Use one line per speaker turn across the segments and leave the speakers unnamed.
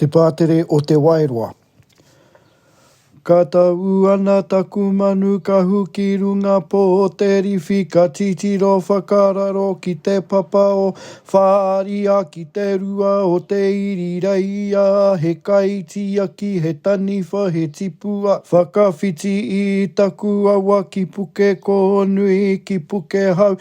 Te Pātere o Te Waeroa Ka tau ana taku manu kahu ki runga pō te riwhi ka titiro whakararo ki te papa o Whāria ki te rua o te iri reia he kaitiaki he taniwha he tipua whakawhiti i taku awa ki Pukekōnui ki Pukehau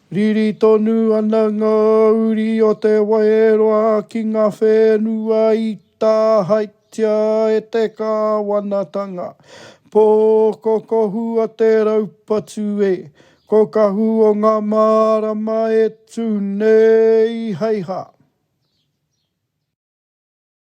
Riri tonu ana ngā uri o Te Waeroa ki ngā whenua i tāhaetia e te kāwanatanga. Pō ko Kohu a Te Raupatu e. Ko Kahu o ngā mārama e tū nei hei hā.